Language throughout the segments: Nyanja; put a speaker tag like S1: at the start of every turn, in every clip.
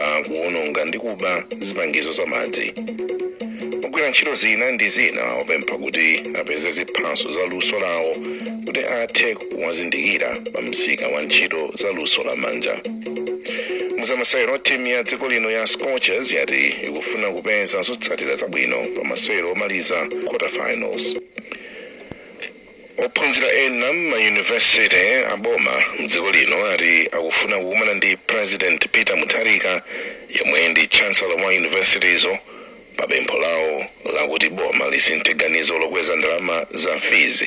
S1: akuwononga ndi kuba zipangizo za madzi ogwira ntchito zina ndi zina awapempha kuti apeze ziphaso za luso lawo kuti athe kuwazindikira pa msika wa ntchito za luso la manja muzamasewero timu ya dziko lino ya scorchers yati ikufuna kupeza zotsatira zabwino pa masewero omaliza quarterfinals Ophunzira ena mma university aboma mdziko lino ati akufuna kukumana ndi President Peter Mutharika yemwe ndi Chancellor wa university zo pa pempho lawo lakuti boma lisinthe ganizo lokweza ndalama za fees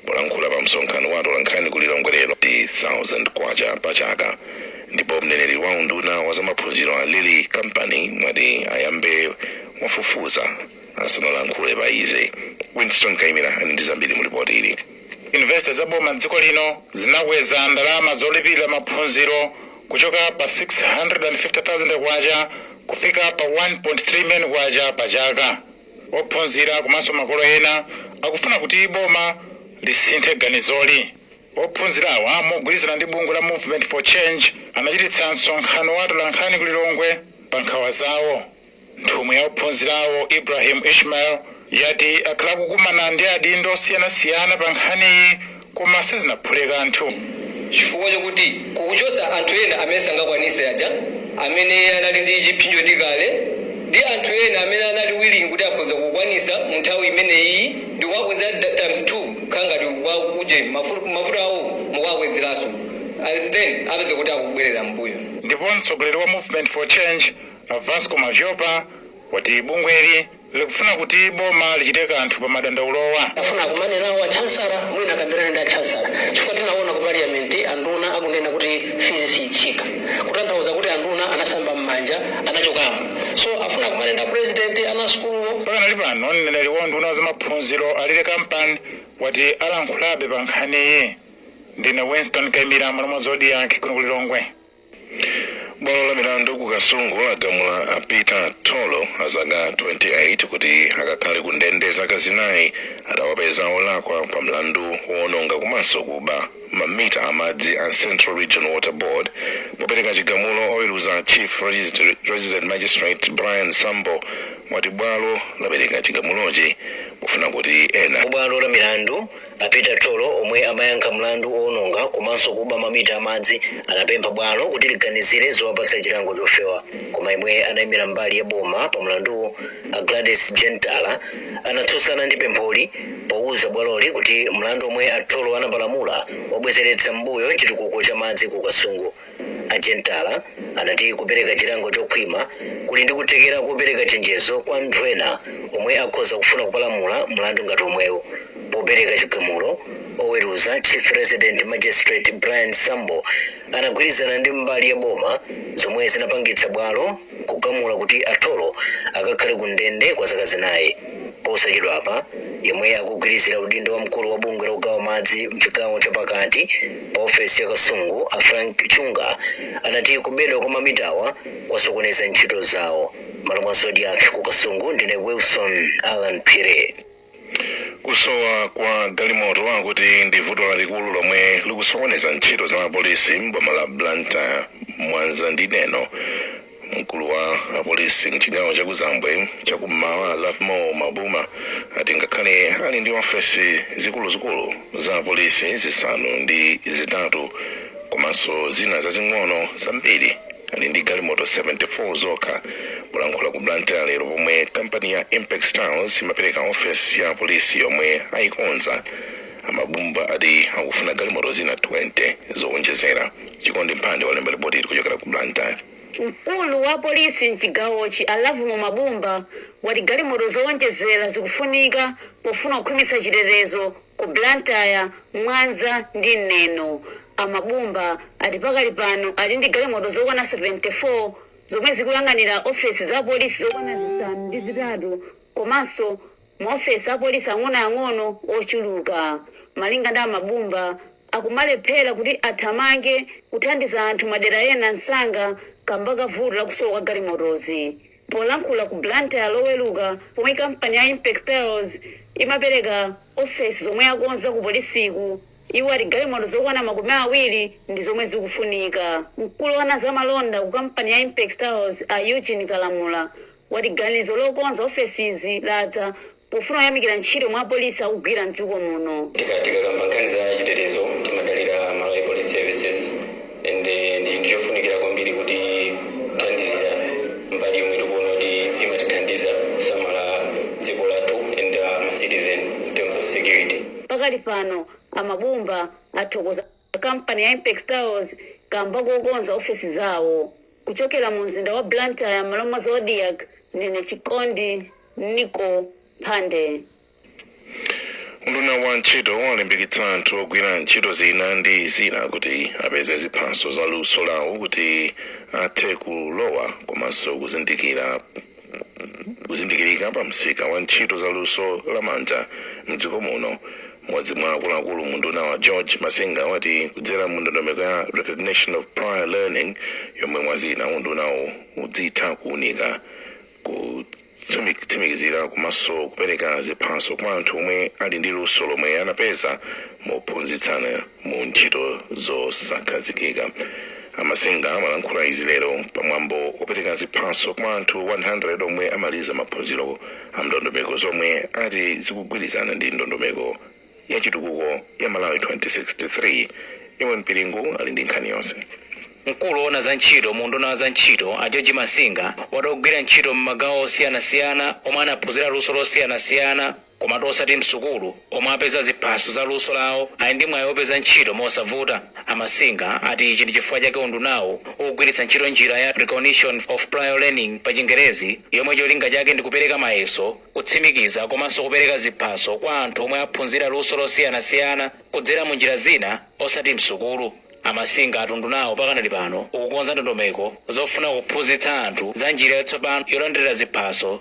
S1: Polankhula pa msonkhano wa atolankhani ku Lilongwe lero ndi K1000 pa chaka ndipo mneneri wa unduna wa zamaphunziro a Lilly Kampani wati ayambe wafufuza asanalankhule pa izi. Winston Kaimira ali ndi zambiri mu lipoti ili. Yunivesite za boma
S2: m'dziko lino zinakweza ndalama zolipilira maphunziro kuchoka pa K650,000 kufika pa K1.3 million pa chaka. Ophunzira komanso makolo ena akufuna kuti boma lisinthe ganizoli. Ophunzirawa mogwirizana ndi bungwe la Movement for Change anachititsa msonkhano wa atolankhani ku Lilongwe pa nkhawa zawo. Nthumwi ya ophunzirawo, Ibrahim Ishmael, yati akhala akukumana ndi adindo osiyanasiyana pa nkhaniyi koma sizinaphule kanthu. Chifukwa chokuti
S3: kukuchosa anthu ena amene sangakwanise aja amene anali ndi chiphinjo ndi kale ndi anthu ena amene anali willing kuti akhoza kukwanisa mu nthawi imeneyiyi ndikuwakweza times 2 kukhala ngati kwa uje mavuto awo mukuwakwezeranso and then apeza kuti akubwelera mmbuyo. Ndipo mtsogoleri wa
S2: Movement for Change, A Vasco Madhlopa wati bungweli likufuna kuti boma lichite kanthu pa madandaulowa. Afuna akumane nawo
S4: a chancellor mwina akambirane ndi a chancellor chifukwa tinaona ku parliament anduna akunena kuti fees siyitsika kutanthauza kuti anduna anasamba mmanja anachokamo so afuna akumane ndi a president ana asukuluwo. Pakanali pano
S2: mneneri wa unduna wa zamaphunziro a Lilly Kampani wati alankhulabe pa nkhaniyi. Ndine Winston Kaimira mmalo mwa Zodiak kuno ku Lilongwe.
S1: bwalo la milandu ku kasungu lagamula a peter tholo a zaka 28 kuti akakhale ku ndende zaka zinayi atawapeza olakwa pa mlandu woononga komanso kuba mamita amadzi a central region water board popereka chigamulo oweruza chief resident magistrate brian sambo wati bwalo lapereka chigamulochi kufuna kuti ena bwalo la milandu
S5: A Peter Tholo omwe amayankha mlandu owononga komanso kuba mamita a madzi anapempha bwalo kuti liganizire zowapatsa chilango chofewa. Koma yemwe anaimira mbali ya boma pa mlanduwu a Gladys Jentala anatsutsana ndi pempholi pouza bwaloli kuti mlandu omwe a Tholo anapalamula wabwezeretsa mmbuyo chitukuko cha madzi ku Kasungu. A Chintala anati kupereka chilango chokhwima kuli ndi kuthekera kopereka chenjezo kwa anthu ena omwe akhoza kufuna kupalamula mlandu ngati omwewu. Popereka chigamulo, oweruza Chief Resident Magistrate Brian Sambo anagwirizana ndi mbali ya boma zomwe zinapangitsa bwalo kugamula kuti a Tholo akakhale ku ndende kwa zaka zinayi. Posachedwapa, yemwe akugwirizira udindo wa mkulu wa bungwe la kugawa madzi m'chigawo cha pakati pa ofesi ya Kasungu a Frank Chunga anati kubedwa kwa mamitawa kwasokoneza ntchito zawo. M'malo mwa Zodiak ku Kasungu ndine Wilson Allan Phiri.
S1: Kusowa kwa galimoto akuti ndi vuto lalikulu lomwe likusokoneza ntchito za apolisi m'boma la Blantyre, Mwanza ndi Neno. Mkulu wa apolisi mchigawo cha kuzambwe cha kummwera Lovemore Mabumba ati ngakhale ali ndi ofesi zikuluzikulu za apolisi zisanu ndi zitatu komanso zina zazing'ono zambiri ali ndi galimoto 74 zokha polankhula ku blantyre lero pomwe kampani ya impex tiles imapereka ofesi ya polisi yomwe ayikonza a mabumba ati akufuna galimoto zina 20 zowonjezera chikondi mphande walemba lipoti ili kuchokera ku blantyre mkulu
S6: wa polisi mchigawochi a lovemore mabumba wati galimoto zowonjezera zikufunika pofuna kukhwimitsa chitetezo Ku Blantyre, Mwanza ndi Neno, a Mabumba ati pakali pano ali ndi galimoto zokwana 74 zomwe zikuyang'anira ofesi za apolisi zokwana zisanu ndi zitatu komanso ma ofesi apolisi ang'onoang'ono ochuluka. Malinga ndi a Mabumba, akumalephera kuti athamange kuthandiza anthu madera ena msanga kamba ka vuto la kusowa kwa galimotozi. Polankhula ku Blantyre loweruka pomwe kampani ya Impex Tiles imapereka ofesi zomwe yakonza ku polisiku, iwo ati galimoto zokwana makumi awiri ndi zomwe zikufunika. Mkulu oona za malonda ku kampani ya Impex Tiles a Eugene Kalamula wati ganizo lokonza ofesizi ladza Pofuna kuyamikira ntchito yomwe apolisi akugwira m'dziko muno. Tikakamba nkhani
S3: za chitetezo timadalira Malawi Police Services and ndi chinthu chofunikira kwambiri kuti tithandizire mbali yomwe tikuona kuti imatithandiza kusamala dziko lathu and ma citizen in terms of security. Pakali pano,
S6: a Mabumba athokoza. a kampani ya Impex Tiles kamba kokonza ofesi zawo. Kuchokera mu mzinda wa Blantyre m'malo mwa Zodiak, ndine Chikondi Nicko Mphande.
S1: Unduna wa Ntchito walimbikitsa anthu ogwira ntchito zina ndi zina kuti apeze ziphaso za luso lawo kuti athe kulowa komanso kuzindikira kuzindikirika pa msika wa ntchito za luso la manja mdziko muno mmodzi mwa akuluakulu mu undunawu a george masinga wati kudzera mu ndondomeko ya recognition of prior learning yomwe mwazina undunawu udzitha kuunika kutsimikizira komanso kupereka ziphaso kwa anthu omwe ali ndi luso lomwe anapeza mophunzitsana mu ntchito zosakhazikika a masinga amalankhula izi lero pamwambo wopereka ziphaso kwa anthu 100 omwe amaliza maphunziro a ndondomeko zomwe ati zikugwirizana ndi ndondomeko ya chitukuko ya malawi 2063 immon pilingu ali ndi nkhani yonse mkulu
S7: woona za ntchito mu unduna wa za ntchito a george masinga ati ogwira ntchito m'magawo osiyanasiyana omwe anaphunzira luso losiyanasiyana Komatu osati m'sukulu, omwe apeza ziphaso za luso lawo ali ndi mwayi opeza ntchito mosavuta. A Masinga ati ichi ndi chifukwa chake undunawu ukugwiritsa ntchito njira ya Recognition of Prior Learning pa chingerezi yomwe cholinga chake ndi kupereka mayeso, kutsimikiza komanso kupereka ziphaso kwa anthu omwe aphunzira luso losiyanasiyana kudzera mu njira zina osati m'sukulu. A Masinga ati undunawu pakadali pano ukukonza ndondomeko zofuna kuphunzitsa anthu za njira yatsopano yolandirira ziphaso.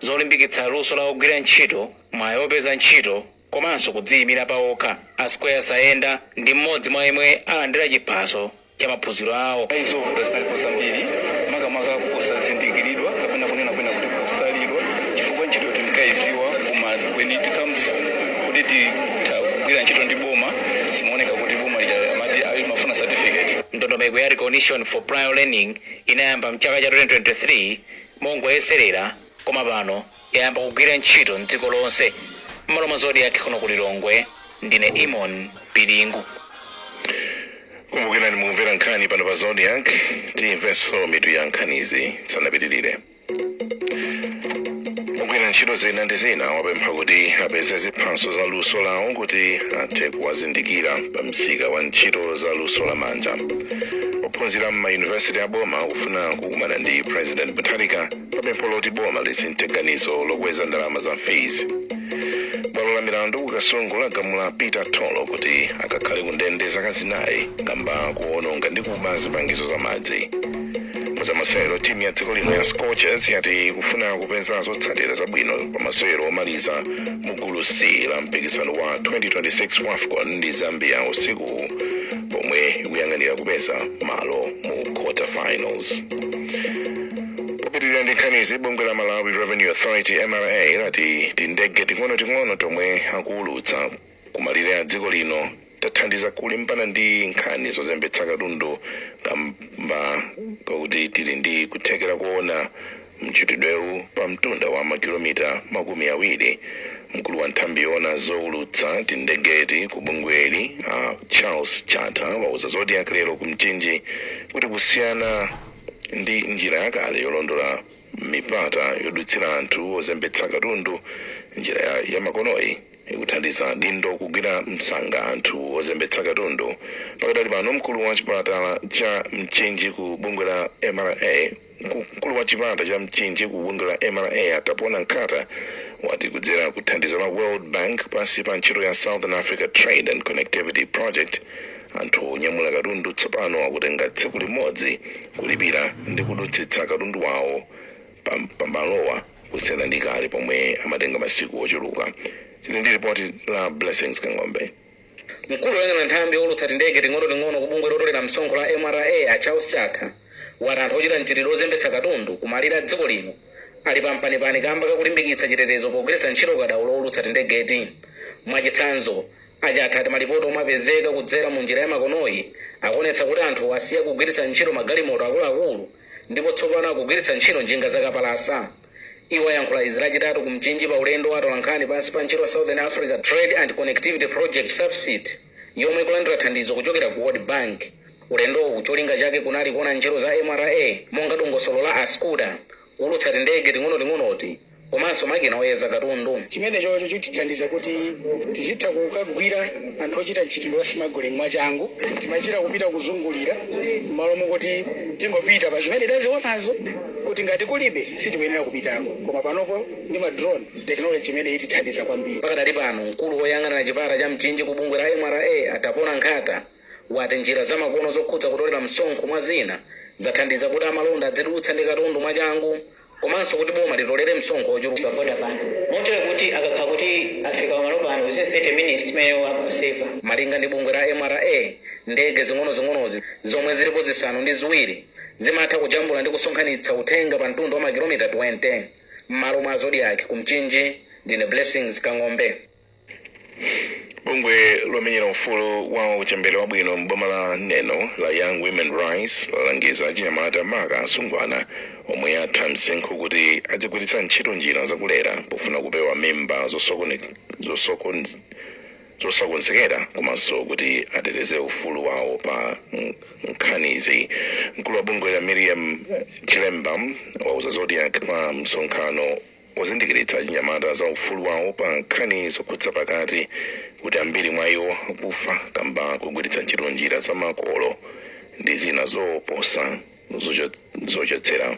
S7: zolimbikitsa luso la ogwira ntchito, mwayi opeza ntchito komanso kudziyimira pawokha. A Square Sayenda ndi m'modzi mwa yemwe alandira chiphaso cha maphunziro awo. Ayi zovuta zinalipo
S2: zambiri makamaka kusazindikiridwa kapena kunena kwina kuti kusalidwa chifukwa ntchito tinkayidziwa koma when it comes kuti tigwire ntchito ndi boma zimaoneka kuti boma lija amati ayi limafuna certificate. Ndondomeko ya Recognition
S7: for Prior Learning inayamba mchaka cha 2023. Mongoyeserera koma pano yayamba kugwira ntchito m'dziko lonse. M'malo mwa Zodiak kuno ku Lilongwe. Ndine Immon Pilingu.
S1: Kumbukirani mukumvera nkhani pano pa Zodiak. Tiyimvenso mitu ya nkhanizi tisanapitirire. Ogwira ntchito zina ndi zina awapempha kuti apeze ziphaso za luso lawo kuti athe kuwazindikira pa msika wa ntchito za luso la manja. Ophunzira m'mayunivesiti a boma akufuna ku kukumana ndi president mutharika pa pempho loti boma lisinthe ganizo lokweza ndalama za fees bwalo la milandu ku kasungu lagamula peter tolo kuti akakhale ku ndende zaka zinayi kamba koononga ndi kuba zipangizo za madzi muzamasewero timu ya dziko lino ya scorchers yati ikufuna kupeza zotsatira zabwino pa masewero omaliza mu gulu c la mpikisano wa 2026 wafcon ndi zambia usiku pomwe ikuyang'anira kupeza malo mu quarter finals popitirira ndi nkhanizi bungwe la malawi revenue authority mra lati tindege ting'onoting'ono tomwe akuulutsa kumalire a dziko lino tathandiza kulimbana ndi nkhani zozembetsa katundu kamba kakuti tili ndi kuthekera koona Mchitidwewu pa mtunda wa makilomita makumi awiri. Mkulu wa nthambi yoona zoulutsa tindegeti ku bungweli a Charles Chatha wauza Zodiak lero ku Mchinji kuti kusiyana ndi njira yakale yolondola mipata yodutsira anthu ozembetsa katundu, njira yamakonoyi ikuthandiza adindo kugwira msanga anthu ozembetsa katundu. Pakadali pano mkulu wa chipatala cha Mchinji ku bungwe la mra, Mkulu wa chipata cha Mchinji ku bungwe la mra a Tapona Nkhata wati kudzera ku thandizo la World Bank pansi pa ntchito ya Southern Africa Trade and Connectivity Project, anthu onyamula katundu tsopano akutenga tsiku limodzi kulipira ndi kudutsitsa katundu wawo pa malowa kusiyana ndi kale pomwe amatenga masiku ochuluka. Tili ndi lipoti la Blessings Kang'ombe. Mkulu
S8: oyang'ana nthambi youlutsa tindege ting'onoting'ono ku bungwe lotolera msonkho la mra a Charles Chatha wati anthu ochita mchitidwe ozembetsa katundu ku malire a dziko lino ali pa mpanipani kamba ka kulimbikitsa chitetezo pogwiritsa ntchito ukadaulo owulutsa tindegeti. Mwachitsanzo, a Chatha ati malipoti omwe apezeka kudzera mu njira ya makonoyi akuonetsa kuti anthu asiya kugwiritsa ntchito magalimoto akuluakulu ndipo tsopano akugwiritsa ntchito njinga zakapalasa. Iwo ayankhula izi lachitatu ku Mchinji pa ulendo wa atolankhani pansi pa ntchito Southern Africa Trade and Connectivity Project, SATCP, yomwe ikulandira thandizo kuchokera ku World Bank. Ulendowu cholinga chake kunali kuona ntchito za mra monga dongosolo la Asycuda, kuulutsa tindege ting'onoting'onoti komanso makina oyeza katundu. Chimenechocho
S9: chitithandiza kuti tizitha kukagwira anthu ochita mchitidwe wa smuggling mwachangu, timachita kupita kuzungulira mmalo mokuti tingopita pa zimene tazionazo. kuti ngati kulibe sitikuyenera kupitako koma panopo ndi ma drone technology imene itithandiza kwambiri. Pakadali pano
S8: mkulu oyang'anira chipata cha Mchinji ku bungwe la mra a Tapona Nkhata wati njira za makono zokhudza kutolera msonkho mwa zina zathandiza kuti amalonda adzidutsa ndi katundu mwachangu komanso kuti boma litolere msonkho ochuluka boda pano
S4: motero kuti akakhala kuti afika pamalo pano within 30 minutes timeneyo amaseva. Malinga ndi bungwe la
S8: mra ndege zing'onozing'onozi zomwe zilipo zisanu ndi ziwiri, Zimatha kujambula ndi kusonkhanitsa uthenga pa mtunda wa makilomita 20 m'malo mwa Zodiak ku Mchinji. Ndine Blessings Kang'ombe. Bungwe
S1: lomenyera ufulu wa uchembere wabwino m'boma la Neno la Young Women Rights lalangiza achinyamata maka asungwana omwe atha msinkhu kuti adzigwiritsa ntchito njira zakulera pofuna kupewa mimba zosokone, zosokon, zosakonzekera komanso kuti ateteze ufulu wawo pa nkhanizi. Mkulu wa bungweli a Miriam Chilemba wauza Zodiak pa msonkhano wozindikiritsa achinyamata za ufulu wawo pa nkhani zokhudza pakati kuti ambiri mwa iwo akufa kamba kogwiritsa ntchito njira za makolo ndi zina zoopsa zocho- zochotsera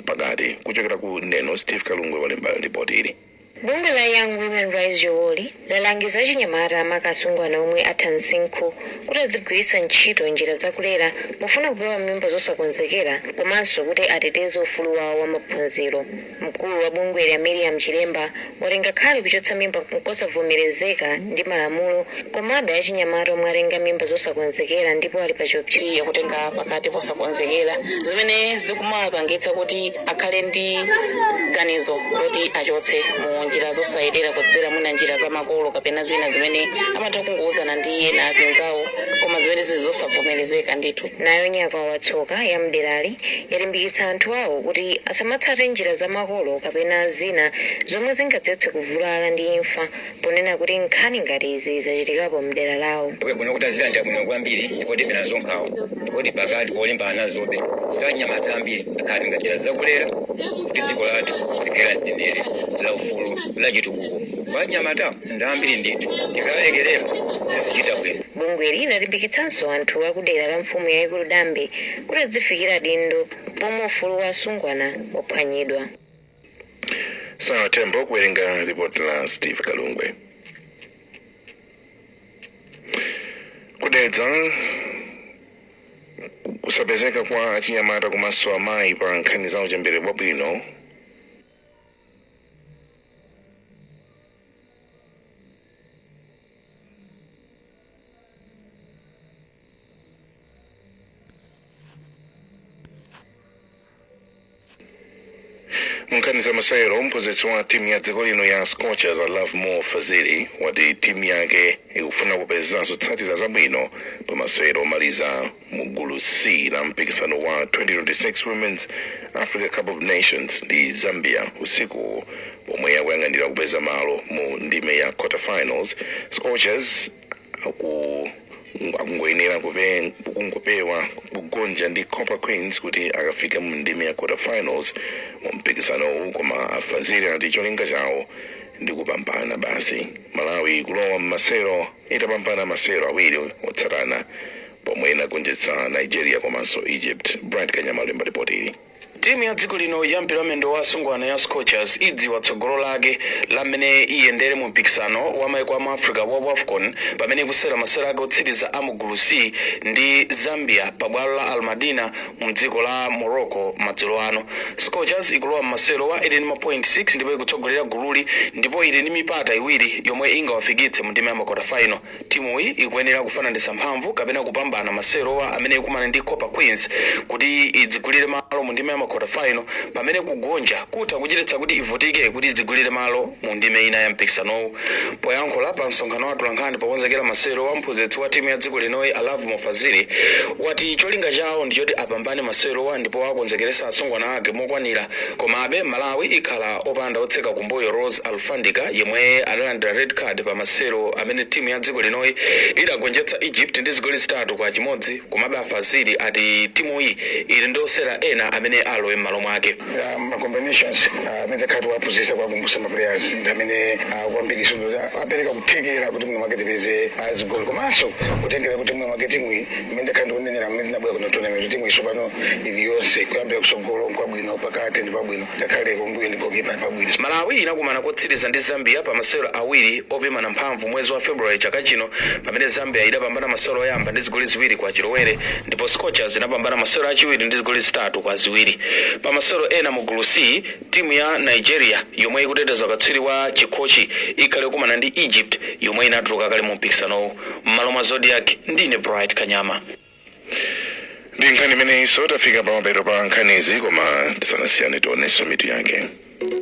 S1: pakati kuchokera ku Neno Steve Kalungwe walemba ripoti ili Bungwe la
S10: Young Women Rise Yowori, lalangiza achinyamata maka asungwana omwe atha msinkhu kuti adzigwiritsa ntchito njira za kulera pofuna kupewa mimba zosakonzekera komanso kuti ateteze ufulu wawo wa maphunziro. Mkulu wa bungweli a Miriam Chilemba wati ngakhale kuchotsa mimba nkosavomerezeka ndi malamulo, Komabe, achinyamata omwe atenga mimba zosakonzekera ndipo ali pa chiopsezo. ya kutenga
S4: pakati posakonzekera, zimene zikumawapangitsa kuti akhale ndi ganizo loti achotse mu njira zosayenera kudzera mwina njira za makolo kapena zina zimene amatha kungouzana ndi ena, azinzawo, koma zimene zili zosavomerezeka ndithu. Nayo
S10: Nyakwawa Tsoka ya m'derali yalimbikitsa anthu awo kuti asamatsate njira za makolo kapena zina zomwe zingadzetse kuvulala ndi imfa ponena kuti nkhani ngati izi zachitikapo mdera lawo. Iwe kuno kutazira ndi
S11: abwino kwambiri ndipo tili nazo nkhawa ndipo tili pakati polimbana nazobe kuti anyamata ambiri akhale a njira zakulera kuti dziko lathu likhale la mtendere la ufulu la chitukuko chifukwa anyamata ndi ambiri ndithu tikalekerera sizichita bwino Bungweli
S10: linalimbikitsanso anthu akudera la mfumu yayikulu Dambe kuti adzifikira adindo pomwe ufulu wa asungwana waphwanyidwa.
S1: Sarah Tembo kuwerenga ripoti la Steve Kalungwe ku Dedza kusapezeka kwa achinyamata komanso amayi pa nkhani za uchembere wabwino Mu nkhani za masewero mphunzitsi wa timu ya dziko lino ya Scorchers a Lovemore Fazili wati timu yake ikufuna kupezanso zotsatira zabwino pa masewero omaliza mu gulu C la mpikisano wa 2026 Women's Africa Cup of Nations ndi Zambia usiku pomwe akuyang'anira kupeza malo mu ndime ya quarterfinals Scorchers aku akungoyenera kupe- kungopewa kugonja ndi Copper Queens kuti akafike mu ndime ya quarterfinals mu mpikisanowu koma a Fazili ati cholinga chawo ndi kupambana basi Malawi ikulowa m'masewero itapambana masewero awiri otsatana pomwe inagonjetsa Nigeria komanso Egypt. Bright Kanyama alemba lipoti ili. Timu
S2: ya dziko lino ya mpira wamendo wa asungwana ya Scorchers idziwa tsogolo lake la mmene iyendere mu mpikisano wa maiko a mu Africa wa WAFCON pamene ikusewera masewero ake otsiriza a mu gulu C ndi Zambia pa bwalo la Almadina mdziko la Morocco madzulo ano. Scorchers ikulowa mmasewerowa ili ndi mapoint 6 ndipo ikutsogolera gululi ndipo ili ndi mipata iwiri yomwe ingawafikitse mu ndime ya makota final. Timuyi ikuyenera kufananitsa mphamvu kapena kupambana masewerowa pamene ikumane ndi Copper Queens kuti idzigulire malo mu ndime ya makota final pamene kugonja kutha kuchititsa kuti ivutike kuti idzigulire malo Mu ndime ina ya mpikisanowu, poyankhula pa msonkhano wa atolankhani pokonzekera masewerowa, mphunzitsi wa timu ya dziko linoyi a Lovemore Fazili wati cholinga chawo ndi choti apambane masewerowa ndipo akonzekeretsa asungwana ake mokwanira komabe Malawi ikhala opanda otseka kumbuyo Rose Alufandika yemwe analandira red card pa masewero amene timu ya dziko linoyi idagonjetsa Egypt ndi zigoli zitatu kwa chimodzi komabe a Fazili ati timuyi ili ndi osewera ena amene alowe mmalo mwake. Ah, ma
S9: combinations ah, amene takhala tikuwaphunzitsa kuwakumbutsa ma players ndi amene ah, kwambiri so kuti apereka kuthekera kuti mwina mwake tipeze ah, zigoli komanso kutengera kuti mwina mwake timu iyi imene ndakhala ndikunenera mmene tinabwera kuno tournament timu iyi sopano ili yonse kuyambira kusogolo nkwabwino pakati ndi pabwino ngakhale kumbuyo ndi gokipa ndi pabwino malawi
S2: inakumana kotsiriza ndi zambia pa masewero awiri opimana mphamvu mwezi wa february chaka chino pamene zambia idapambana masewero oyamba ndi zigoli ziwiri kwa chilowere ndipo Scorchers inapambana masewero achiwiri ndi zigoli zitatu kwa ziwiri. Pa masewero ena mu gulu C, timu ya Nigeria yomwe ikuteteza ukatswiri wa chikhochi ikhale ikukumana ndi Egypt yomwe inatuluka kale mu mpikisanowu. M'malo mwa Zodiak, ndine Bright
S1: Kanyama. ndi nkhani imeneyinso tafika pamapeto pa nkhanizi koma tisanasiyane tionenso mitu yake